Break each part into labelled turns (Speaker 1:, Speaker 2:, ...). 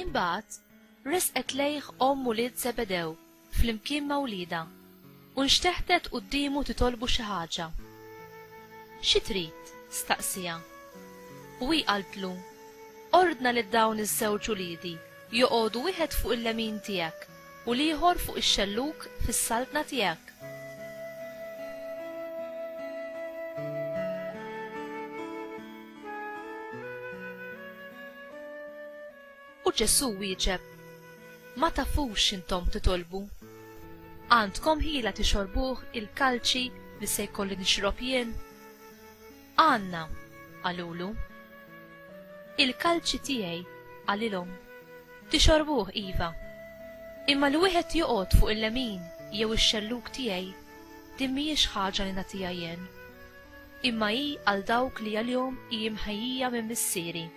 Speaker 1: Imbagħad resqet lejh omm ulied Żebedew flimkien ma' wliedha u nxteħtet quddiemu titolbu xi ħaġa. Xi trid? staqsieha. U hi qaltlu, Ordna lil dawn iż-żewġ uliedi joqogħdu wieħed fuq il-lemin tiegħek U l-ieħor fuq ix-xellug fis-saltna tiegħek. U Ġesù wieġeb, Ma tafux x'intom titolbu. Għandkom ħila tixorbuh il-kalċi li se jkolli nixrob jien? Għandna, qalulu. Il-kalċi tiegħi, qalilhom, tixorbuh iva, imma li wieħed joqgħod fuq il-lemin jew ix-xellug tiegħi, din mhijiex ħaġa li nagħtiha jien, imma hi għal dawk li għalihom hi imħejjija minn Missieri.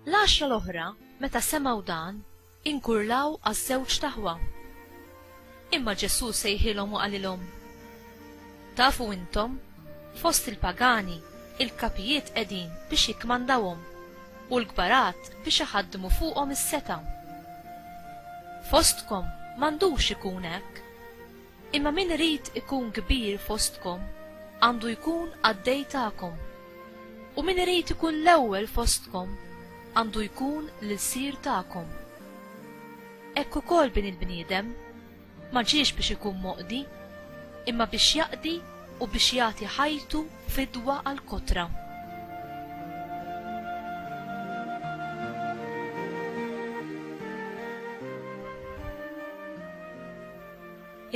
Speaker 1: L-għaxra l-oħra, meta semgħu dan, Inkurlaw għaż-żewġt aħwa. Imma Ġesù sejħilhom u qalilhom, Tafu intom, fost il-pagani, il-kapijiet qegħdin biex jikkmandawhom, u l-kbarat biex iħaddmu fuqhom is-setgħa. Fostkom m'għandux ikun hekk. Imma min irid ikun kbir fostkom għandu jkun qaddej tagħkom, u min irid ikun l-ewwel fostkom għandu jkun l-ilsir tagħkom. Hekk ukoll Bini l-bniedem ma ġiex biex ikun moqdi, imma biex jaqdi u biex jagħti ħajtu fidwa għall-kotra.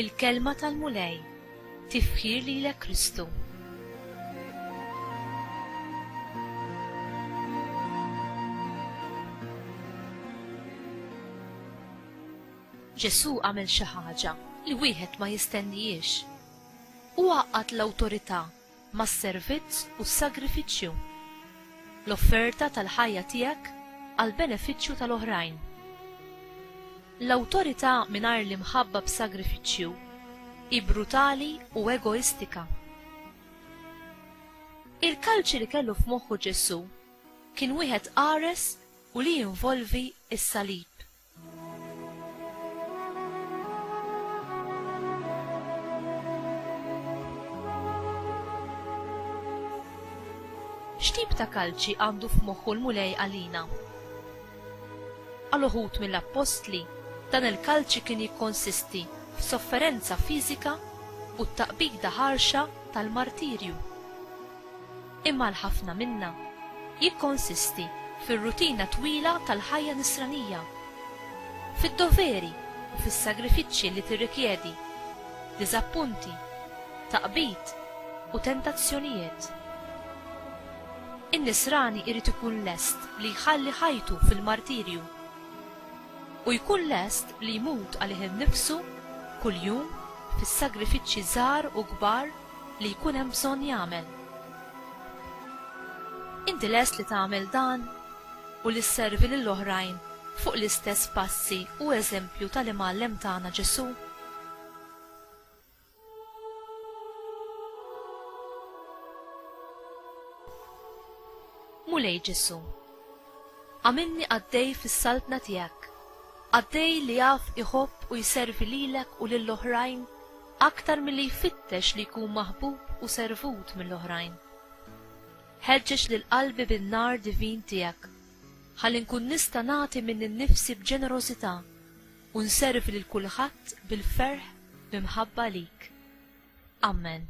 Speaker 1: Il-Kelma tal-Mulej Tifħir lilek Kristu. Ġesù għamel xi ħaġa li wieħed ma jistennihiex. Hu għaqqad l-awtorità mas-servizz u s-sagrifiċċju, l-offerta tal-ħajja tiegħek għall-benefiċċju tal-oħrajn. L-awtorità mingħajr l-imħabba b'sagrifiċċju hi brutali u egoistika. Il-kalċi li kellu f'moħħu Ġesù kien wieħed qares u li jinvolvi s-salib. X'tip ta' kalċi għandu f'moħħu l-Mulej għalina? Għal uħud mill-appostli, dan il-kalċi kien jikkonsisti f'sofferenza fiżika u t-taqbida ħarxa tal-martirju. Imma għal ħafna minna, jikkonsisti fir-rutina twila tal-ħajja Nisranija, fid-doveri u fis-sagrifiċċji li tirrikjedi, diżappunti, taqbid u tentazzjonijiet. In-Nisrani jrid ikun lest li jħalli ħajtu fil-martirju, u jkun lest li jmut għalih innifsu kuljum fis-sagrifiċċji żgħar u kbar, li jkun hemm bżonn jagħmel. Inti lest li tagħmel dan u li sservi lil oħrajn fuq l-istess passi u eżempju tal-Imgħallem tagħna Ġesù? Mulej Ġesu. Għamilni għaddej fis-saltna tiegħek, għaddej li jaf iħobb u jservi lilek u lill-oħrajn aktar milli jfittex li jkun maħbub u servut mill-oħrajn. Ħeġġeġ lil qalbi bin-nar divin tiegħek, ħalli nkun nista' nagħti minn innifsi b'ġenerożità u nservi lil kulħadd bil-ferħ bi mħabba lik. Ammen.